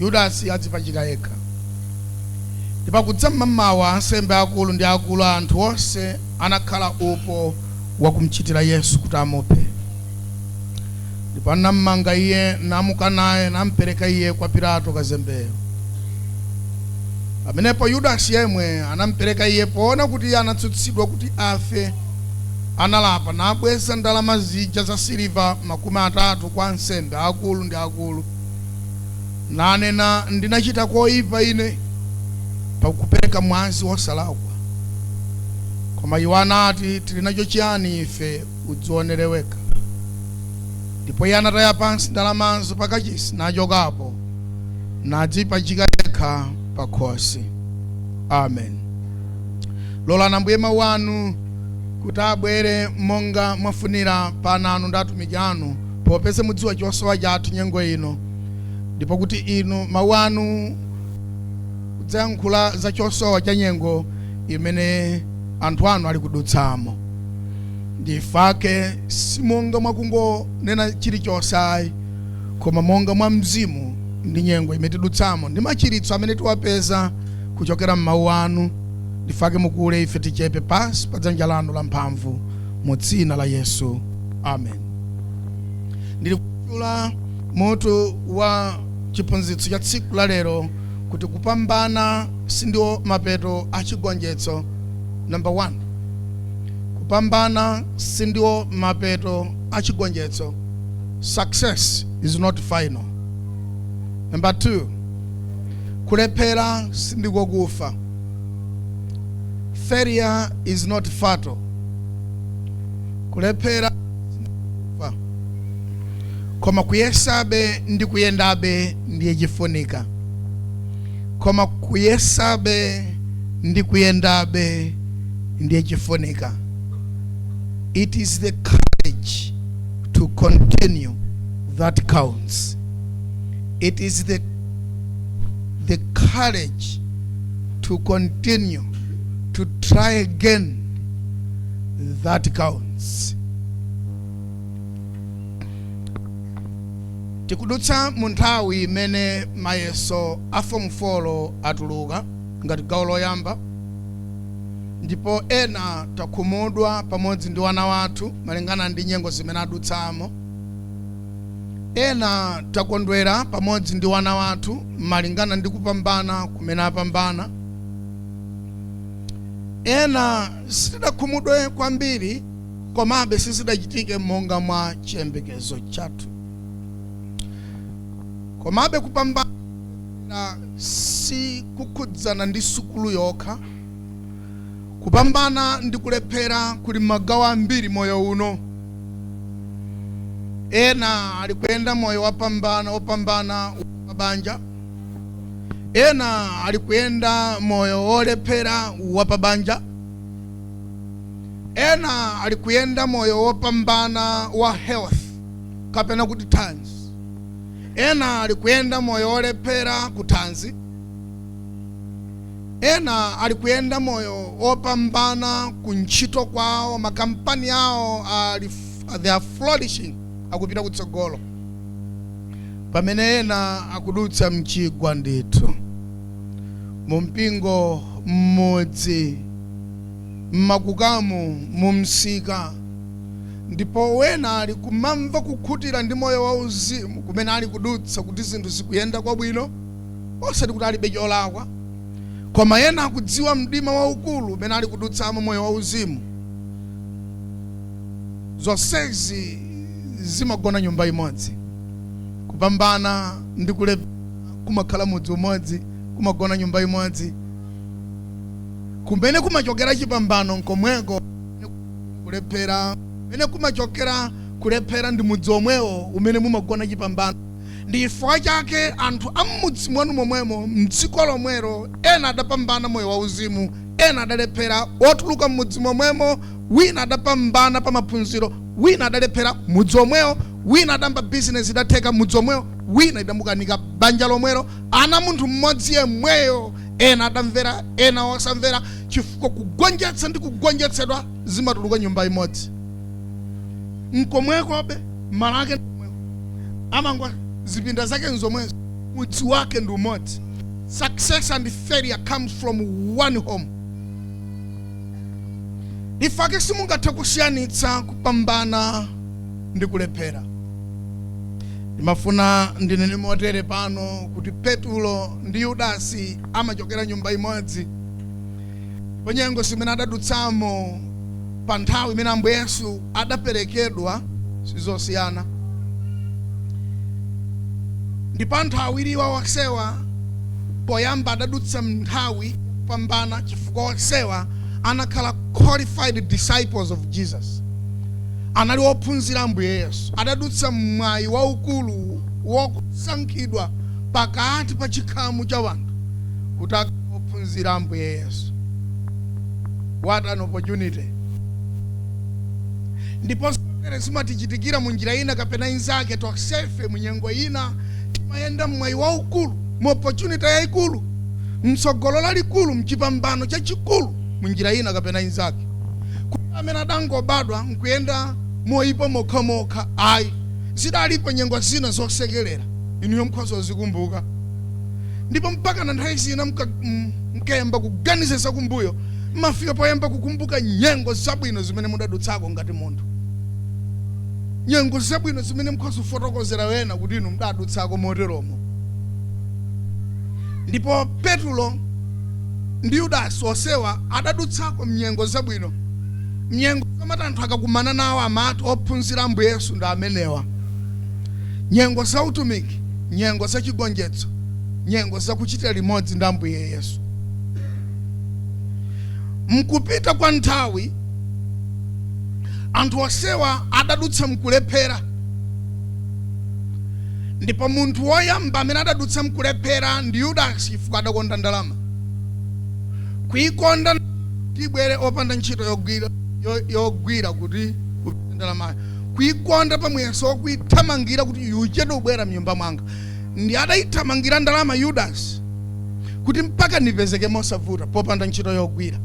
Yudasi adzipachika yekha. Ndipo kudza m'mamawa ansembe akulu ndi akulu a anthu onse anakhala upo wakumchitira Yesu kuti amuphe. Ndipo anammanga Iye, namuka naye, nampereka Iye kwa Pilato kazembeyo. Pamenepo Yudasi yemwe anampereka Iye, poona kuti Iye anatsutsidwa kuti afe, analapa, nabweza ndalama zija zasiliva makumi atatu kwa ansembe akulu ndi akulu. nanena, Ndinachita koipa ine pakupereka mwazi wosalakwa. Koma iwo anati, Tili nacho chiyani ife? Udzionere wekha. Ndipo iye anataya pansi ndalamazo pa kachisi, nachokapo, nadzipachika yekha pa khosi. Amen. Lolani Ambuye mawu anu kuti abwere monga mwafunira pa ana anu ndi atumiki anu popeza mudziwa chosowa chathu nyengo ino, ndipo kuti inu mawu anu adzayankhula za chosowa cha nyengo imene anthu anu ali kudutsamo ndifake simonga mwakungonena chilichonse ayi koma monga mwa mzimu ndi nyengo imene tidutsamo ndi machiritso amene tiwapeza kuchokera m'mawu anu ndifake mukule ife tichepe pansi pa dzanja lanu la mphamvu mu dzina la yesu amen ndili kutchula mutu wa chiphunzitso cha tsiku la lero kuti kupambana sindiwo mapeto a chigonjetso namba 1 kupambana sindiwo mapeto a chigonjetso success is not final namba 2 kulephera sindiko kufa failure is not fatal kulephera sindiko kufa koma kuyesabe ndi kuyendabe ndiye chifunika koma kuyesabe ndi kuyendabe ndiye chifunika it is the courage to continue that counts it is the courage to continue to try again that counts tikudutsa mu nthawi imene mayeso a fomu 4 atuluka ngati gawo loyamba ndipo ena takhumudwa pamodzi ndi wana wathu malingana ndi nyengo zimene adutsamo ena takondwera pamodzi ndi wana wathu malingana ndi kupambana kumene apambana ena Sitidakhumudwe kwambiri, komabe sizidachitike monga mwa chiyembekezo chathu. Komabe kupambana sikukhudzana ndi sukulu yokha. Kupambana ndi kulephera kuli magawo ambiri moyo uno. Ena ali kuyenda moyo wopambana wopambana wapabanja. ena ali kuyenda moyo wolephera wapabanja ena ali kuyenda moyo wopambana wa health kapena kuti thanzi ena ali kuyenda moyo wolephera ku thanzi ena ali kuyenda moyo wopambana ku ntchito kwawo makampani awo they are flourishing akupita kutsogolo pamene ena akudutsa mchigwa ndithu mu mpingo mmudzi mmakukamu mu msika ndipo ena ali kumamva kukhutira ndi moyo wa uzimu kumene ali kudutsa kuti zinthu zikuyenda kwabwino osati kuti alibe cholakwa koma ena akudziwa mdima waukulu umene ali kudutsamo moyo wa uzimu zonsezi zimagona nyumba imodzi kupambana ndi kulephera kumakhala mudzi umodzi kumagona nyumba imodzi kumene kumachokera chipambano nkomweko kulephera kumene kumachokera kulephera ndi mudzi omwewo umene mumagona chipambano ndi chifukwa chake anthu a m'mudzi mwanu momwemo mdziko lomwelo ena adapambana moyo wauzimu ena adalephera otuluka m'mudzi momwemo wina adapambana pa maphunziro, wina adalephera mudzi omwewo, wina adayamba bizinezi idatheka mudzi omwewo, wina idamukanika banja lomwelo, ana a munthu mmodzi yemweyo, ena adamvera ena osamvera chifukwa kugonjetsa ndi kugonjetsedwa zimatuluka nyumba imodzi. Nkomweko be, malo ake ndi omwewo, amangwa zipinda zake nzomwezo, mudzi wake ndi umodzi. Success and failure comes from one home. chifukwa chake simungathe kusiyanitsa kupambana ndi kulephera ndimafuna ndinene motere pano kuti petulo ndi yudasi amachokera nyumba imodzi ndipo nyengo zimene adadutsamo pa nthawi imene ambuye yesu adaperekedwa sizosiyana ndipo anthu awiriwa onsewa poyamba adadutsa mnthawi yopambana chifukwa onsewa anakhala qualified disciples of jesus anali ophunzira ambuye yesu adadutsa mmwayi waukulu wokusankhidwa pakati pa chikhamu cha wanthu kuti akhale ophunzira ambuye yesu what an opportunity ndipo zimene zimatichitikira mu njira ina kapena inzake tonsefe mu nyengo ina timayenda mmwayi waukulu mu opportunity yayikulu mtsogolo lalikulu mchipambano chachikulu mu njira ina kapena inzake palibe amene adangobadwa nkuyenda moyipa mokhamokha ayi zidalipo nyengo zina zosekerera inuyo mkhoza kuzikumbuka ndipo mpakana nthawi zina mka- m- mkayamba kuganiza zakumbuyo mmafika poyamba kukumbuka nyengo zabwino zimene mudadutsako ngati munthu nyengo zabwino zimene mukhoza kufotokozera wena kuti inu mudadutsako moteromo ndipo petulo ndi yudasi onsewa adadutsako mnyengo zabwino mnyengo zamati anthu akakumana nawo amati ophunzira ambuye yesu ndi amenewa nyengo za utumiki nyengo za chigonjetso nyengo zakuchitira limodzi ndi ambuye yesu mkupita kwa nthawi anthu onsewa adadutsa mkulephera ndipo munthu woyamba amene adadutsa mkulephera ndi yudasi chifukwa adakonda ndalama kuikonda kuti ibwere popanda ntchito yogwira yo- yogwira kuti kupita ndalamayo kuikonda pamuyeso wokuithamangira kuti isachedwe kubwera mnyumba mwanga ndiye adayithamangira ndalama yudasi kuti mpakana ipezeke mosavuta popanda ntchito yogwira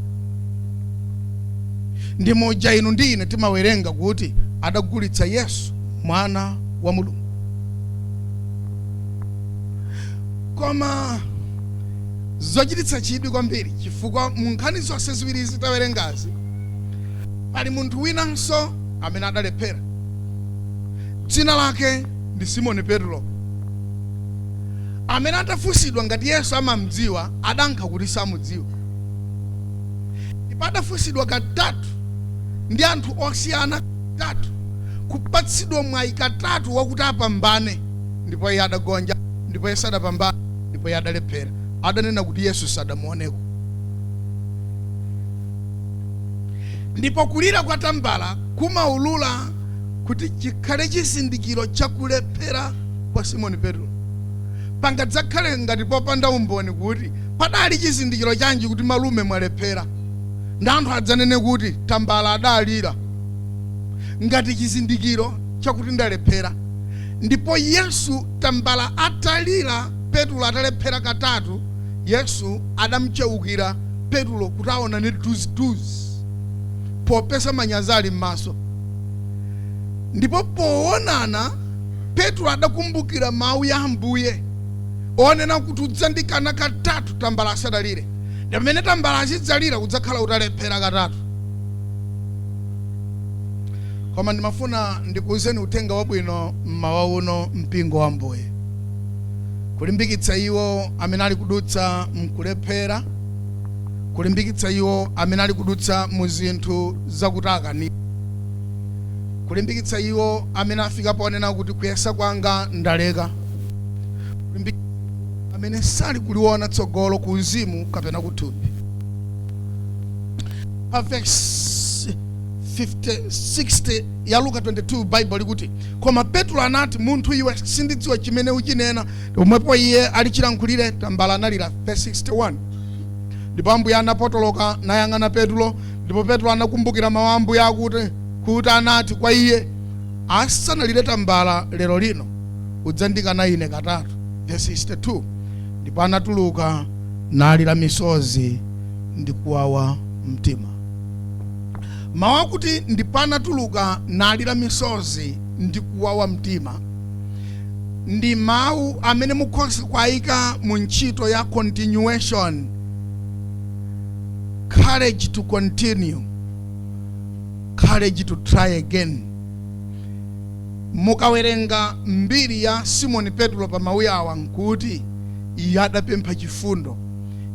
ndi muja inu ndi ine timawerenga kuti adagulitsa yesu mwana wa mulungu koma zochititsa chidwi kwambiri chifukwa mu nkhani zonse ziwirizi tawerengazi pali munthu winanso amene adalephera dzina lake ndi simoni petulo amene atafunsidwa ngati Yesu amam'dziwa, adayankha kuti samudziwa. Ndipo adafunsidwa katatu ndi anthu osiyana atatu, kupatsidwa mwayi katatu wakuti apambane, ndipo iye adagonja, ndipo iye sadapambane, ndipo iye adalephera. Adanena kuti Yesu sadamuoneko. Ndipo kulira kwa tambala kumaulula kuti chikhale chizindikiro cha kulephera kwa Simoni Petro. Pangadzakhale ngati popanda umboni kuti padali chizindikiro chanji kuti malume mwalephera, ndi anthu adzanene kuti tambala adalira ngati chizindikiro chakuti ndalephera. Ndipo Yesu tambala atalira, Petro atalephera katatu, Yesu adamcheukira Petro kuti aonane duziduzi, popeza manyazi ali m'maso, ndipo poonana petro adakumbukira mawu ya ambuye onena kuti udzandikana katatu tambala asadalire ndi pamene tambala azidzalira udzakhala utalephera katatu koma ndimafuna ndikuwuzeni uthenga wabwino mmawa uno mpingo wa ambuye kulimbikitsa iwo amene ali kudutsa mkulephera kulimbikitsa iwo amene ali kudutsa mu zinthu zakuti akani kulimbikitsa iwo amene afika ponena kuti kuyesa kwanga ndaleka, kulimbikitsa amene sali kuliona tsogolo ku uzimu kapena kuthupi. Pa vesi 50, 60 ya Luka 22 Baibulo likuti, koma Petro anati, munthu iwe, sindidziwa chimene uchinena. Pomwepo iye ali chilankhulire, tambala analira. Vesi 61 ndipo ambuye anapotoloka nayang'ana Petro Ndipo Petro anakumbukira mawu a Ambuye akuti, kuti anati kwa iye, asanalire tambala lero lino, udzandikana ine katatu. Vesi 62 Ndipo anatuluka nalira misozi ndi kuwawa mtima. Mawu akuti ndipo anatuluka nalira misozi ndi kuwawa mtima ndi mawu amene mukhoza kuwayika mu ntchito ya continuation courage to continue courage to try again mukawerenga mbiri ya simoni petro pa mawu awa nkuti iye adapempha chifundo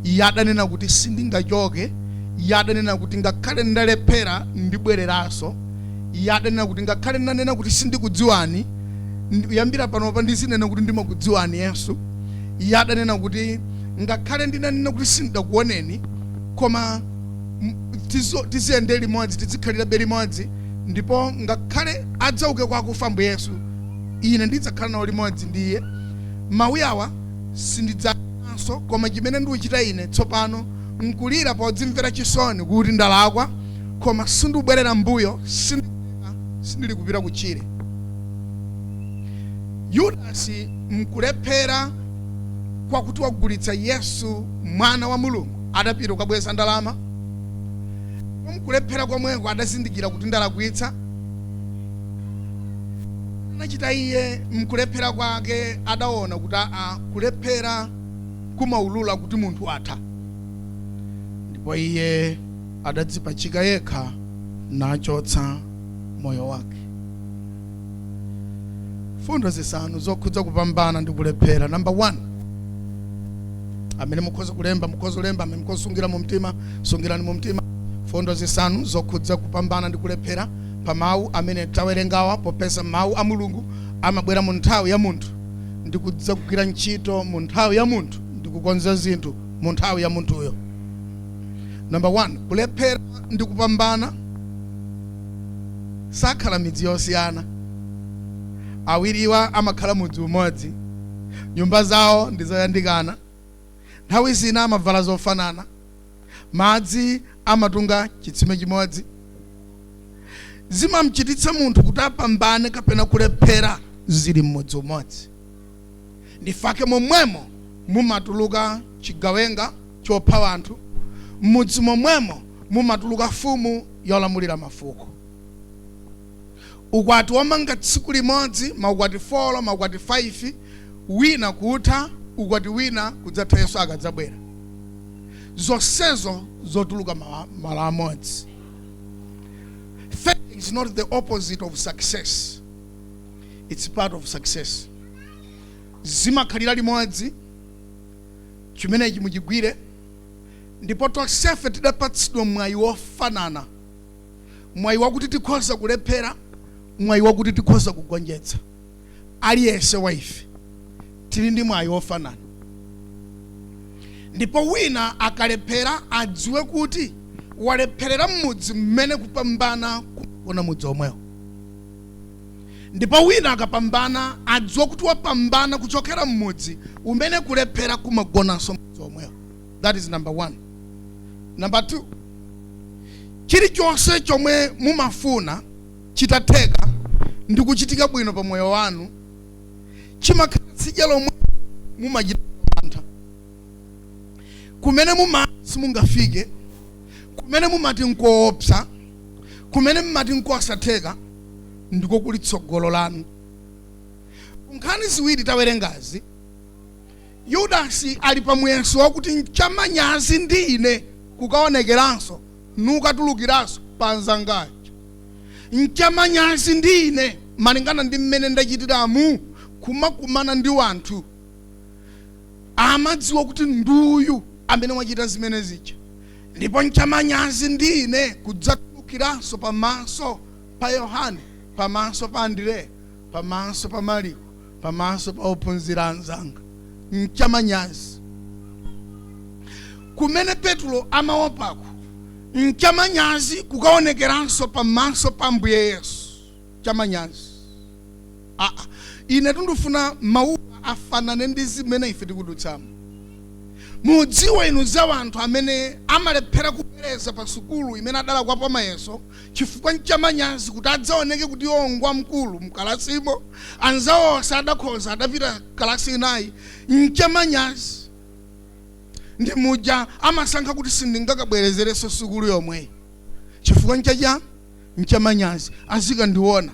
iye adanena kuti sindingachoke iye adanena kuti ngakhale ndalephera ndibwereranso iye adanena kuti ngakhale ndanena kuti sindikudziwani ndi- kuyambira panopa ndizinena kuti ndimakudziwani yesu iye adanena kuti ngakhale ndinanena kuti sindidakuoneni koma tiziyende limodzi tidzikhalirabe limodzi ndipo ngakhale adzauke kwa akufa ambuye yesu ine ndidzakhala nawo limodzi ndi iye mawu awa sindidzanenanso koma chimene ndikuchita ine tsopano nkulira podzimvera chisoni kuti ndalakwa koma sindikubwerera mbuyo sindili kupita kutchire yudasi mkulephera kwakuti wagulitsa yesu mwana wa mulungu adapita kukabweza ndalama mkulephera komweko adazindikira kuti ndalakwitsa anachita iye mkulephera kwake adaona kuti aa kulephera kumaulula kuti munthu atha ndipo iye adadzipachika yekha nachotsa moyo wake mfundo zisanu zokhudza kupambana ndi kulephera namba 1 amene mukhoza kulemba mukhoza kulemba amene mukhoza kusungira mu mtima sungirani mu mtima mfundo zisanu zokhudza kupambana ndi kulephera pa mawu amene tawerengawa popeza mawu a mulungu amabwera mu nthawi ya munthu ndi kudza kugwira ntchito mu nthawi ya munthu ndi kukonza zinthu mu nthawi ya munthuyo namba 1 kulephera ndi kupambana sakhala midzi yosiyana awiriwa amakhala mudzi umodzi nyumba zawo ndi zoyandikana nthawi zina amavala zofanana madzi amatunga chitsime chimodzi zimamchititsa munthu kuti apambane kapena kulephera zili mmudzi umodzi Nchifukwa chake momwemo mumatuluka chigawenga chopha anthu, m'mudzi momwemo mumatuluka mfumu yolamulira mafuko. Ukwati womanga tsiku limodzi, maukwati folo, maukwati faifi, wina kutha, ukwati wina kudzatha Yesu akadzabwera. Zonsezo zotuluka malo amodzi. Failure is not the opposite of success. its part of success zimakhalira limodzi chimenechi muchigwire ndipo tonsefe tidapatsidwa mwayi wofanana mwayi wakuti tikhoza kulephera mwayi wakuti tikhoza kugonjetsa aliyense wa ife tili ndi mwayi wofanana ndipo wina akalephera adziwe kuti walepherera mmudzi mmene kupambana kugona mudzi omwewo Ndipo wina akapambana adziwe kuti wapambana kuchokera mmudzi umene kulephera kumagonanso mmudzi omwewo. That is number one. Number two, chilichonse chomwe mumafuna chitatheka ndi kuchitika bwino pa moyo wanu chimakhala tsidya lomwe mumachita mantha kumene mumati simungafike kumene mumati nkoopsa kumene mmati nkosatheka ndiko kuli tsogolo lanu nkhani ziwiri tawerengazi yudasi ali pa muyeso wakuti nchamanyazi ndi ine kukaonekeranso nukatulukiranso pa anzanga aja nchamanyazi ndi ine malingana ndi mmene ndachitiramu kumakumana ndi wanthu amadziwa kuti nduyu amene wachita zimene zija Ndipo nchamanyazi ndi ine kudzatulukiranso pamaso pa Yohane, pamaso pa Andireya, pamaso pa Maliko, pamaso pa ophunzira anzanga. Nchamanyazi. Kumene Petulo amaopako, nchamanyazi kukaonekeranso pamaso pa Ambuye Yesu. chamanyazi. A, ine tundufuna mawuwa afanane ndi zimene ife tikudutsamo. Mudziwe inu za wanthu amene amalephera kubwereza pa sukulu imene adalakwapo mayeso chifukwa nchamanyazi kuti adzaoneke kuti iwo ngwamkulu mkalasimo, anzawo onse adakhoza adapita kalasi inayi, nchamanyazi. Ndi muja amasankha kuti sindingakabwerezereso sukulu yomweyi chifukwa ncha chani? nchamanyazi azikandiona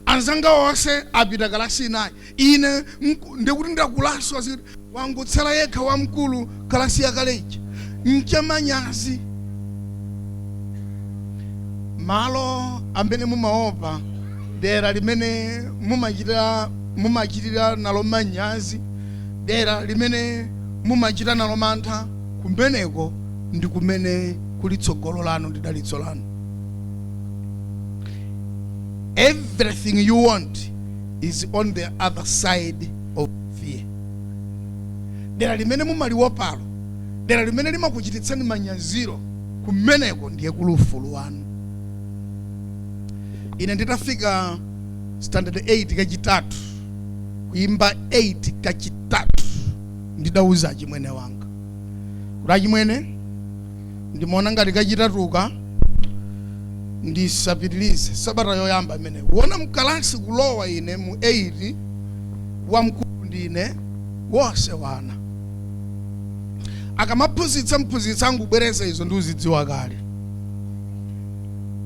anzanga onse apita kalasi inayi ine nku- ndikuti ndakulaso aziti wangotsala yekha wamkulu kalasi yakale ija nchamanyazi malo amene mumaopa dera limene mumachi- mumachitira nalo manyazi dera limene mumachita nalo mantha kumeneko ndi kumene kuli tsogolo lanu ndi dalitso lanu Everything you want is on the other side of fear. Dera limene mumaliwopalo, dera limene limakuchititsani manyaziro kumeneko ndiye kuli ufulu wanu. Ine nditafika standard 8 kachitatu kuimba 8 kachitatu ndidauza achimwene wanga kuti achimwene ndikuona ngati kachitatuka ndisapitilize sabata yoyamba imeneyi kuona mkalasi kulowa ine mu 8 wamkulu ndine wonse wana akamaphunzitsa mphunzitsa angubwereza izo ndikuzidziwa kale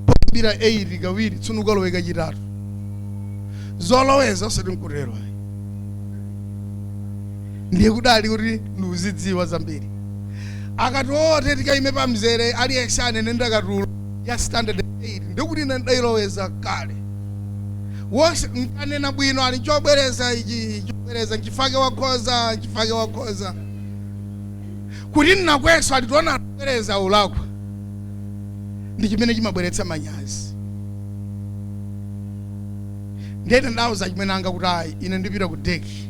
poyambira 8 kawiri tsuno ukalowe kachitatu zoloweza osati nkutero ayi ndiye kudali kuti ndikuzidziwa zambiri akati onse tikaime pa mzere aliyense anene ndakatulo ya standard 8 ndikuti ine ndidayiloweza kale wonse nkanena bwino ali chobwereza ichi chobwereza nchifake wakhoza nchifake wakhoza kuti ndilakwenso ali tiona kubwereza ulakwa ndi chimene chimabweretsa manyazi ndiyene ndauza achimwene anga kuti ayi ine ndipita ku deki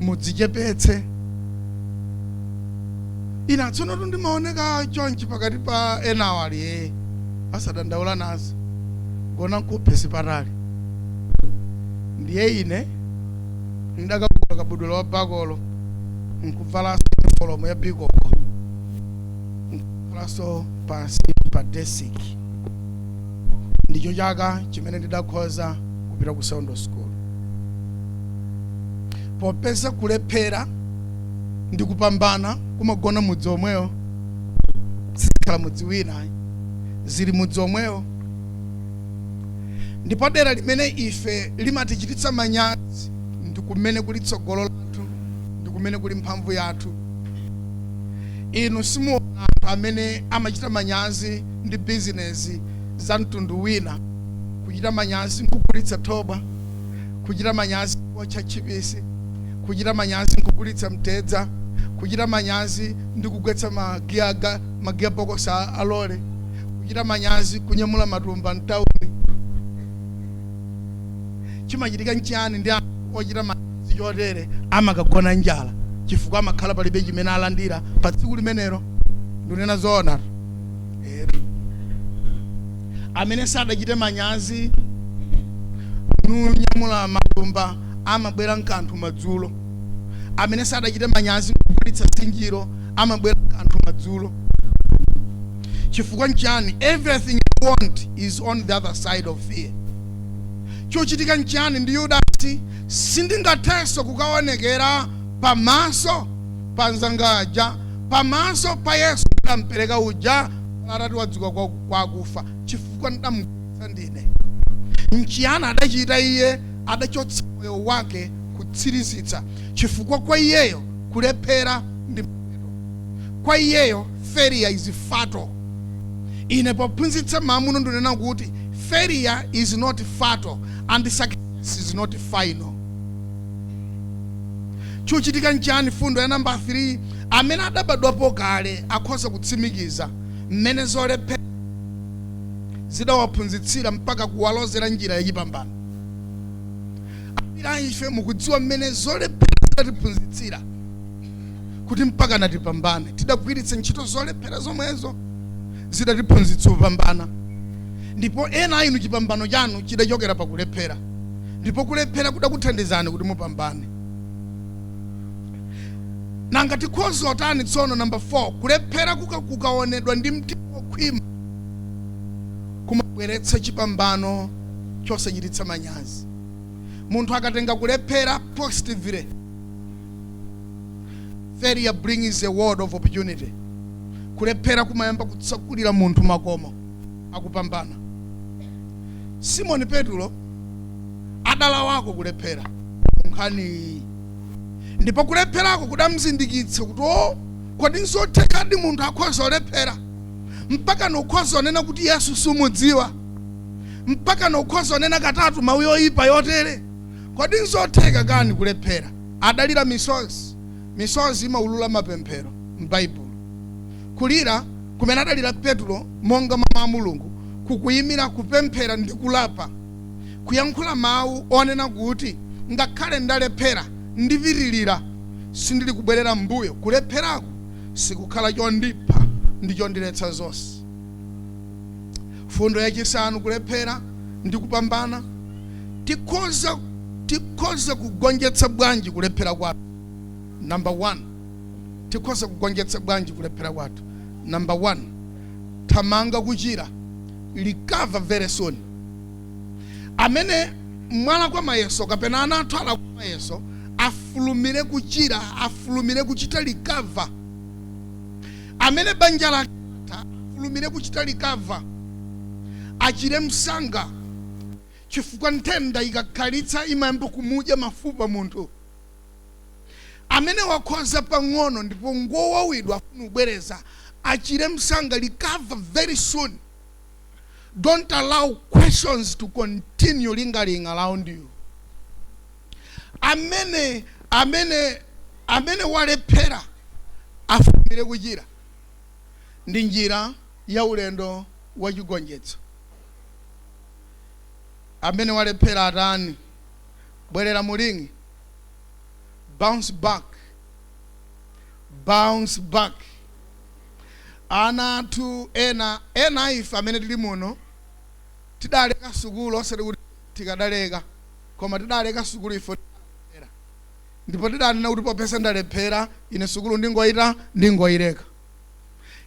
mudzichepetse ina tsono tu ndimaoneka chonchi pakati pa enawo ali ee asadandaula nazo gona nkuphe si patali ndiye ine ndidakavula kabudula wa bakolo nkuvalanso uniform ya bikoko nkuvalanso pansi pa desiki ndicho chaka chimene ndidakhoza kupita ku sekondale sukulu popeza kulephera ndi kupambana kumagona mudzi omwewo sizikhala mudzi wina ayi. zili mudzi omwewo ndipo dera limene ife limatichititsa manyazi ndi kumene kuli tsogolo lathu ndi kumene kuli mphamvu yathu inu simuona anthu amene amachita manyazi ndi bizinezi za mtundu wina kuchita manyazi nkugulitsa thobwa kuchita manyazi kuotcha tchipisi kuchita manyazi nkugulitsa mtedza kuchita manyazi ndi kugwetsa magiaga magiya bokosi a lole kuchita manyazi kunyamula matumba mtauni chimachitika nchiyani ndi ochita manyazi chotere amakagona njala chifukwa amakhala palibe chimene alandira pa tsiku limenelo ndunena zoona etu amene sadachite manyazi kunyamula matumba amabwera nkanthu madzulo amene sadachite manyazi kugulitsa zinjiro amabwera nkanthu madzulo chifukwa nchani everything you want is on the other side of fear chochitika nchani ndi yudasi sindingathenso kukaonekera pamaso pa nzangaja pamaso pa yesu ndampereka uja atati wadzuka kwa kwa akufa chifukwa ndamugulitsa ndine nchiyani adachita iye adachotsa moyo wake kutsirizitsa chifukwa kwa iyeyo kulephera ndi mapeto kwa iyeyo failure is fatal ine pophunzitsa mamuno ndinena kuti failure is not fatal and success is not final chochitika nchani fundo ya namba 3 amene adabadwapo kale akhoza kutsimikiza mmene zolephera zidawaphunzitsira mpaka kuwalozera njira yachipambano. Ambiri a ife tikudziwa mmene zolephera zidatiphunzitsira kuti mpakana tipambane. Tidagwiritsa ntchito zolephera zomwezo zidatiphunzitsa kupambana, ndipo ena a inu chipambano chanu chidachokera pa kulephera, ndipo kulephera kudakuthandizani kuti mupambane. nanga tikhoza otani tsono namba 4 kulephera kukaonedwa ndi mtima wokhwima kumabweretsa chipambano chosachititsa manyazi munthu akatenga kulephera positively failure brings a world of opportunity kulephera kumayamba kutsakulira munthu makomo akupambana simoni petulo adalawako kulephera nkhani iyi ndipo kulepherako kudamzindikiritsa kuti o kodi nzothekadi munthu akhoza olephera mpaka n'kukhoza kunena kuti yesu sumudziwa mpaka n'kukhoza kunena katatu mawu yoyipa yotere kodi nzotheka kani kulephera adalira misozi misozi imaulula mapemphero m'baibulo kulira kumene adalira petulo monga mwa mawu a mulungu kukuyimira kupemphera ndi kulapa kuyankhula mawu onena kuti, Ngakhale ndalephera, ndipitirira, sindili kubwerera m'mbuyo, kulepherako sikukhala chondipha ndi chondiletsa zonse. Mfundo yachisanu, Kulephera ndi kupambana. Ti tikhoza kugonjetsa bwanji kulephera kwathu? Number 1. Tikhoza kugonjetsa bwanji kulephera kwathu? Number 1. Thamanga kuchira, recover very soon. amene mwalakwa mayeso kapena ana athu alakwa mayeso afulumire kuchira afulumire kuchita recover amene banja latha, afulumire kuchita recover achire msanga chifukwa nthenda ikakhalitsa imayamba kumudya mafupa munthu amene wakhoza pang'ono ndipo ngowawidwa afuna kubwereza achire msanga recover very soon Don't allow questions to continue lingering around you. Amene amene amene walephera afulumire kuchira ndi njira ya ulendo wa chigonjetso. Amene walephera atani bwerera mu ring bounce back bounce back Ana athu ena, ena a ife amene tili muno, tidaleka sukulu, osati kuti tikadaleka, koma tidaleka sukulu chifukwa choti tidalephera, ndipo tidanena kuti popeza ndalephera, ine sukulu ndingoita, ndingoileka.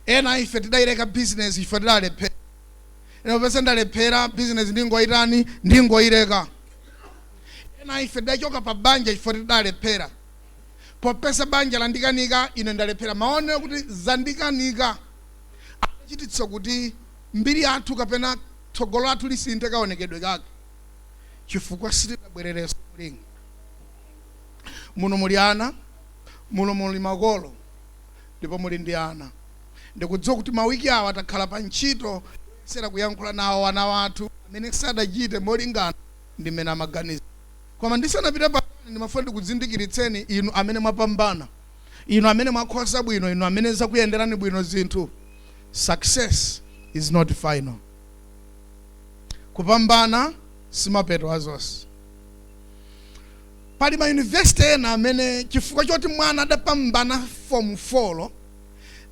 Ena a ife tidaileka bizinezi chifukwa tidalephera, ine popeza ndalephera, bizinezi ndingoitani, ndingoileka. Ena a ife tidachoka pa banja chifukwa tidalephera, Popeza banja landikanika, ine ndalephera. Mawu onena kuti zandikanika adachititsa kuti mbiri yathu kapena tsogolo lathu lisinthe kaonekedwe kake chifukwa sitidabwererenso mu ring. Muno muli ana, muno muli makolo ndipo muli ndi ana. Ndikudziwa kuti mawiki awa takhala pa ntchito yoyesera kuyankhula nawo ana athu amene sadachite molingana ndi mmene amaganiza. Koma ndisanapite patali, ndimafuna ndikuzindikiritseni inu amene mwapambana, inu amene mwakhoza bwino, inu amene zakuyenderani bwino zinthu. Success is not final. Kupambana simapeto a zonse. Pali ma university ena amene chifukwa choti mwana adapambana fomu folo,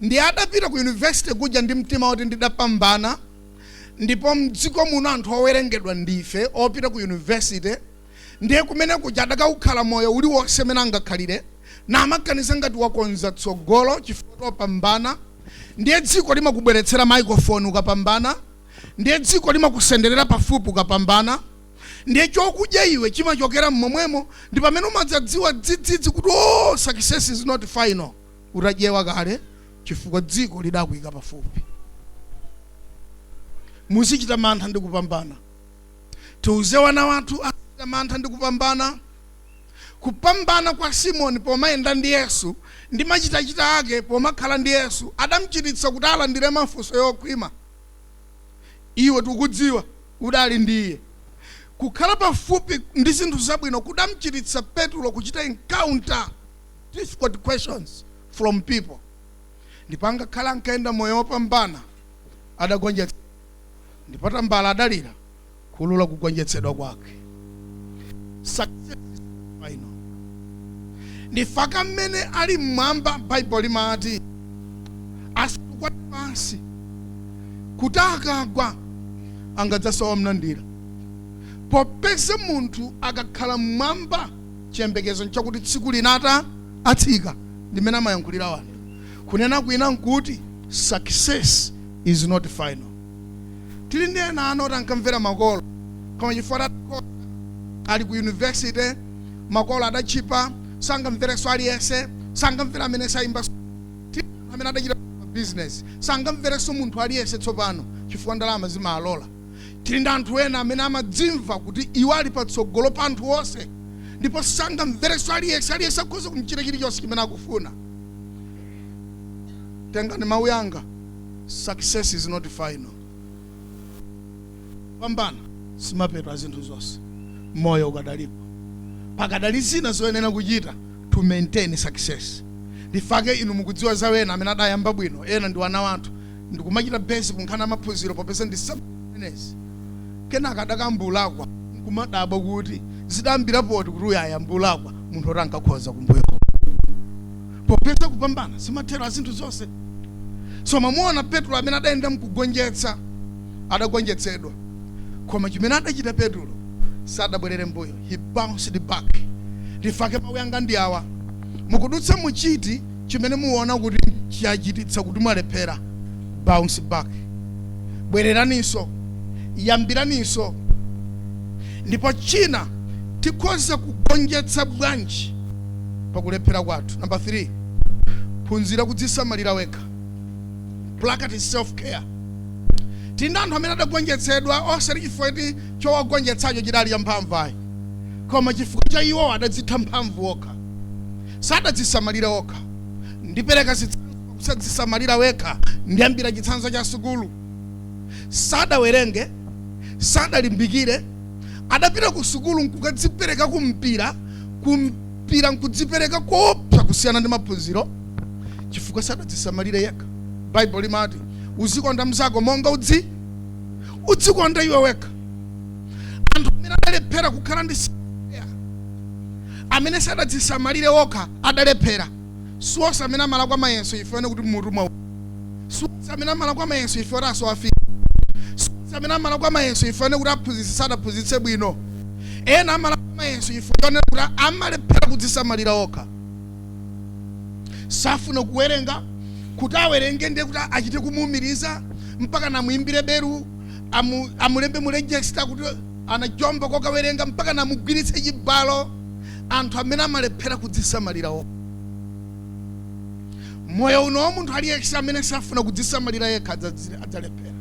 Ndiye adapita ku university kuja ndi mtima oti ndidapambana ndipo mdziko muno anthu owerengedwa ndife opita ku university ndiye kumene kuja adakaukhala moyo uliwonse umene angakhalire namaganiza ngati wakonza tsogolo chifukwa choti wapambana ndiye dziko limakubweretsera microphone ukapambana ndiye dziko limakusenderera pafupi ukapambana ndiye chokudya iwe chimachokera mmomwemo ndipamene umadzadziwa dzidzidzi kuti oh success is not final utadyewa kale chifukwa dziko lidakuika pafupi. Muzichita mantha ndi kupambana. Tiuze wana wathu azichita mantha ndi kupambana. Kupambana kwa Simoni pomayenda ndi Yesu ndi machitachita ake pomakhala ndi Yesu adamchititsa kuti alandire mafunso yokhwima. Iwe tikudziwa udali ndi Iye. Kukhala pafupi ndi zinthu zabwino kudamchititsa Petulo kuchita encounter. difficult questions from people ndipo angakhale ankayenda moyo wopambana adagonjetsa ndipo tambala adalira kuulula kugonjetsedwa kwake Success is not final. in fact amene ali mmwamba baibulo limati asukwa pansi kuti akagwa angadzasowa womlandira popeza munthu akakhala mmwamba Chiyembekezo nchakuti tsiku lina ata atsika ndi mmene amayankhulira anthu. Kunena kwina nkuti success is not final. Tili ndi ena ana oti ankamvera makolo koma chifukwa atakhoza ali ku university makolo adatchipa sangamverenso aliyense sangamvere amene saimbanso tili ndi anthu amene adachita ma business sangamverenso munthu aliyense tsopano chifukwa ndalama zimaalola. Tili ndi anthu ena amene amadzimva kuti iwo ali patsogolo pa anthu onse ndipo sangamverenso aliyense. Aliyense akhoza kum'chita chilichonse chimene akufuna. Tengani mawu yanga, success is not final. Kupambana simapeto a zinthu zonse. Moyo ukadalipo. Pakadali zina zoyenera kuchita to maintain success. Ndifake inu mukudziwa za ena amene adayamba bwino. Ena ndi ana athu. ndikumachita base kunkhani ya maphunziro popeza ndi zimenezi kenaka adakayamba kulakwa nkumadabwa kuti zidayambira pati kuti uyu ayambe kulakwa munthu oti ankakhoza kumbuyo popeza kupambana simathero a zinthu zonse so mwamuona petro amene adayenda mkugonjetsa adagonjetsedwa koma chimene adachita petro sadabwerere mbuyo he bounced back ndifake mawu yanga ndi awa mukudutsa mu chiti chimene muwona kuti chachititsa kuti mwalephera, bounce back. Bwereraninso, yambiraninso. Ndipo china, tikhoza kugonjetsa bwanji pa kulephera kwathu? Number 3, phunzira kudzisamalira wekha. Practice self care. Tili ndi anthu amene adagonjetsedwa osati chifukwa choti chowagonjetsacho chidali champhamvu ayi, koma chifukwa cha iwo adadzitha mphamvu okha. Sadadzisamalire okha. Ndipereka zitsanzo pa kusadzisamalira wekha. Ndiyambira chitsanzo cha sukulu. Sadawerenge, sadalimbikire, adapita ku sukulu nkukadzipereka ku mpira, ku mpira nkudzipereka koopsa kusiyana ndi maphunziro chifukwa sadadzisamalire yekha. Baibulo limati uzikonda mnzako monga udzi udzikonda iwe wekha. Anthu amene adalephera kukhala ndi amene sadadzisamalire okha adalephera. Siwonse amene amalakwa mayeso chifukwa chonena kuti mutu mwa siwonse amene amalakwa mayeso chifukwa choti asowafika. Siwonse amene amalakwa mayeso chifukwa chonena kuti aphunzitsi sadaphunzitse bwino. Ena amalakwa mayeso chifukwa chonena kuti amalephera kudzisamalira okha. Safuna kuwerenga, kuti awerenge ndiye kuti achite kumuumiriza, mpaka namuimbire belu, amu, amulembe mu register kuti anajomba kokawerenga mpaka namugwiritse chibalo anthu amene amalephera kudzisamalira okha. Moyo uno wa munthu aliyense amene safuna kudzisamalira yekha adzazi- adzalephera.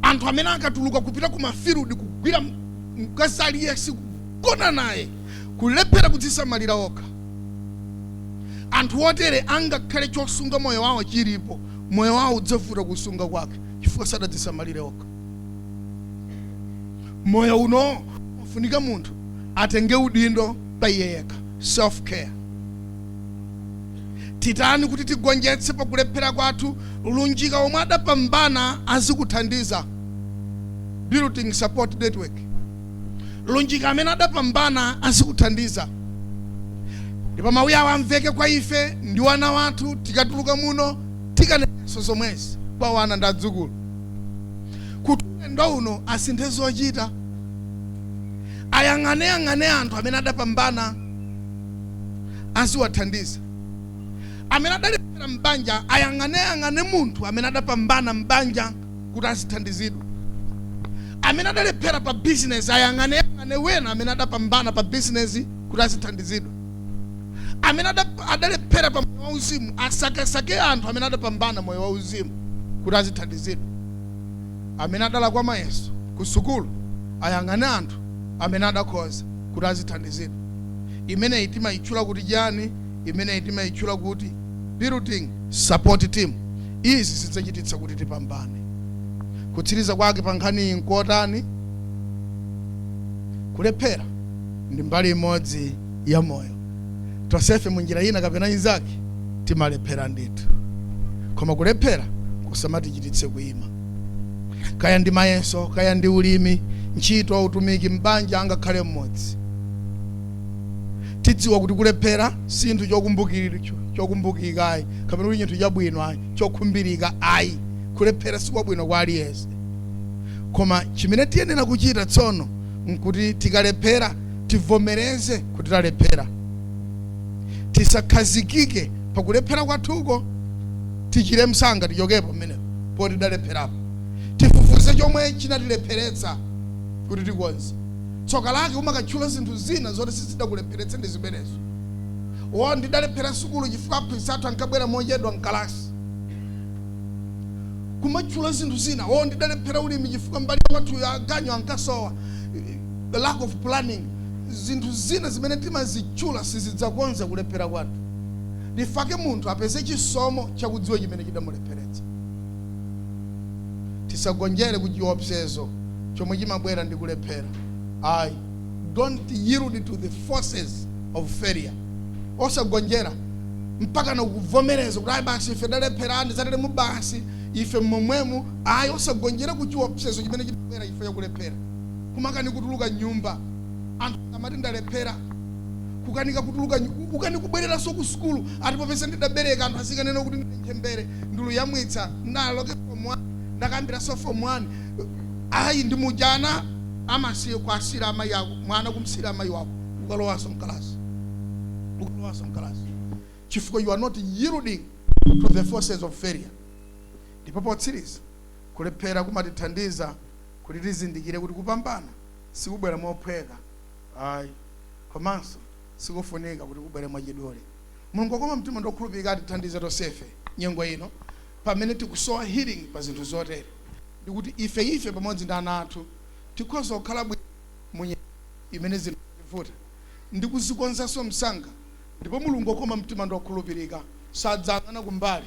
Anthu amene akatuluka kupita ku ma field kugwira m- mkazi aliyense kugona naye kulephera kudzisamalira okha. Anthu otere angakhale chosunga moyo wawo chilipo, moyo wawo udzavuta kusunga kwake chifukwa sadadzisamalire okha. moyo uno ufunika munthu atenge udindo pa iye yekha self care titani kuti tigonjetse pakulephera kwathu lunjika omwe adapambana azikuthandiza building support network lunjika amene adapambana azikuthandiza ndipo mawu awa amveke kwa ife ndi wana wathu tikatuluka muno tikanenso zomwezi kwa wana ndi adzukulu kuti ulendo uno asinthe zochita ayang'aneyang'ane anthu amene adapambana aziwathandiza amene adalephera m'banja ayang'aneyang'ane munthu amene adapambana m'banja kuti azithandizidwa amene adalephera pa bizinesi ayang'aneyang'ane wena amene adapambana pa bizinesi kuti azithandizidwa amene adalephera pa moyo wauzimu asakesake anthu amene adapambana moyo wauzimu kuti azithandizidwa amene adalakwa mayeso ku sukulu ayang'ane anthu amene adakhoza kuti azithandizidwa imeneyi timayitchula kuti chani imeneyi timayitchula kuti building support team izi zidzachititsa kuti tipambane kutsiriza kwake pa nkhaniyi nkotani kulephera ndi mbali imodzi ya moyo tonsefe mu njira ina kapena inzake timalephera ndithu koma kulephera kusamatichititse kuima kaya ndi mayeso kaya ndi ulimi ntchito utumiki m'banja angakhale m'mudzi tidziwa kuti kulephera si chinthu chokumbukiri- cho- chokumbukika ayi kapena kuti chinthu chabwino ayi chokhumbirika ayi kulephera sikwabwino kwa aliyense koma chimene tiyenera kuchita tsono nkuti tikalephera tivomereze kuti talephera tisakhazikike pakulephera kwathuko tichire msanga tichokepo pamenepo poti tidalepherapo tifufuze chomwe chinatilepheretsa kuti tikonze tsoka lake kumakatchula zinthu zina zoti sizidakulepheretse ndi zimenezo o ndidalephera sukulu chifukwa aphunzitsi athu ankabwera mochedwa mkalasi kumatchula zinthu zina o ndidalephera ulimi chifukwa mbali ya kwathuyo aganyu ankasowa the lack of planning zinthu zina zimene timazitchula sizidzakonza kulephera kwathu ndifake munthu apeze chisomo chakudziwa chimene chidamulepheretsa tisagonjere ku chiopsezo chomwe chimabwera ndi kulephera ayi don't yield to the forces of failure osagonjera mpaka nakuvomereza kuti ayi basi ife talephera ndi zateremu basi ife momwemu ayi osagonjera ku chiopsezo chimene chimabwera ife yakulephera kumakanika kutuluka nyumba anthu amati ndalephera kukanika kutuluka nyu- kukanika kubwereranso ku sukulu ati popeza ndidabereka anthu azikanena kuti ndine ntchembere ndili kuyamwitsa ndikalowe form 1 ndikayambirenso form 1 ayi ndi muja ana amasiye kuwasiyira amayi ako mwana kumsiyira amayi wako ukalowanso mkalasi ukalowanso mkalasi chifukwa you are not yielding to the forces of failure ndipo potsiriza kulephera kumatithandiza Kuti tizindikire kuti kupambana sikubwera mophweka ayi, komanso sikufunika kuti kubwere mwachidule, Mulungu wokoma mtima ndi wokhulupirika atithandize tonsefe nyengo ino pamene tikusowa healing pa zinthu zotere, ndikuti ifeyife pamodzi ndi ana athu tikhoza kukhala bwino mu nyengo imene zinthu zativuta ndi kuzikonzanso msanga, ndipo Mulungu wokoma mtima ndi wokhulupirika sadzayang'ana kumbali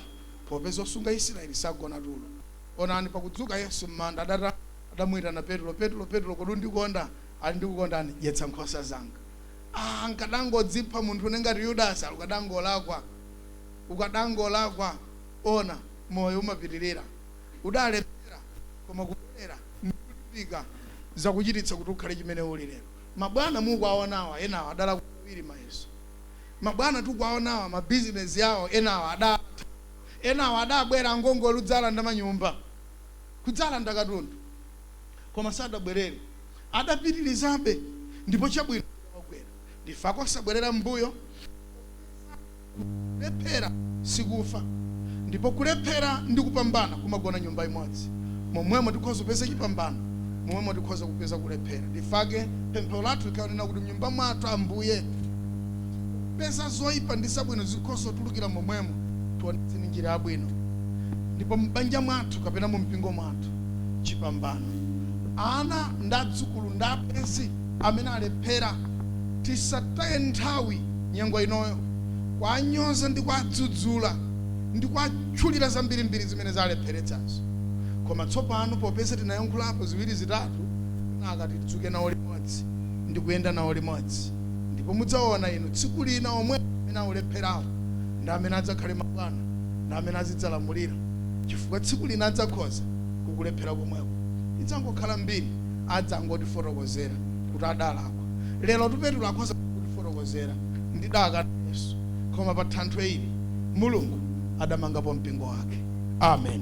popeza osunga Israeli sagona tulo. Onani, pakudzuka Yesu m'manda, adatana, adamuitana Petro, Petro, Petro, kodi undikonda? Ali ndikukondani, dyetsa nkhosa zanga. Ah, nkadangodzipha munthune ngati Yudasi, ali ukadangolakwa, ukadangolakwa, ona, moyo umapitirira, udalephera, koma kubwerera ndi kulimbika zakuchititsa kuti ukhale chimene uli lero. Mabwana mukuwaonawa enawa adalakwa kawiri mayeso. Mabwana tikuwaonawa mabizinesi awo enawa adatha. Enawa adabwera angongole kudzalanda manyumba, kudzalanda katundu, koma sadabwerere. Adapitirizabe ndipo chabwino chidawagwera. Ndifake osabwerera m'mbuyo popeza kuti kulephera sikufa ndipo kulephera ndi kupambana kumagona nyumba imodzi. Momwemo tikhoza kupeza chipambano, momwemo tikhoza kupeza kulephera. Ndifake pemphero lathu likhale kunena kuti, Mnyumba mwathu, Ambuye. Popeza zoipa ndi zabwino zikhoza kutulukira momwemo, tionetseni njira yabwino, ndipo m'banja mwathu kapena mu mpingo mwathu, chipambano. Ana ndi adzukulu ndi abwenzi amene alephera, tisataye nthawi nyengo inoyo kuwanyoza ndi kuwadzudzula ndi kuwatchulira zambirimbiri zimene zalepheretsazo. Koma tsopano popeza tinayankhulapo ziwiri zitatu, kenaka tidzuke nawo limodzi ndi kuyenda nawo limodzi. ndipo mudzaona inu tsiku lina omwe amene olepherawo ndi amene adzakhale mabwana ndi amene azidzalamulira chifukwa tsiku lina adzakhoza kukulephera komweko idzangokhala mbiri adzangotifotokozera kuti adalakwa lero Petulo akhoza kutifotokozera ndidakana Yesu koma pa thanthwe ili mulungu adamangapo mpingo wake amen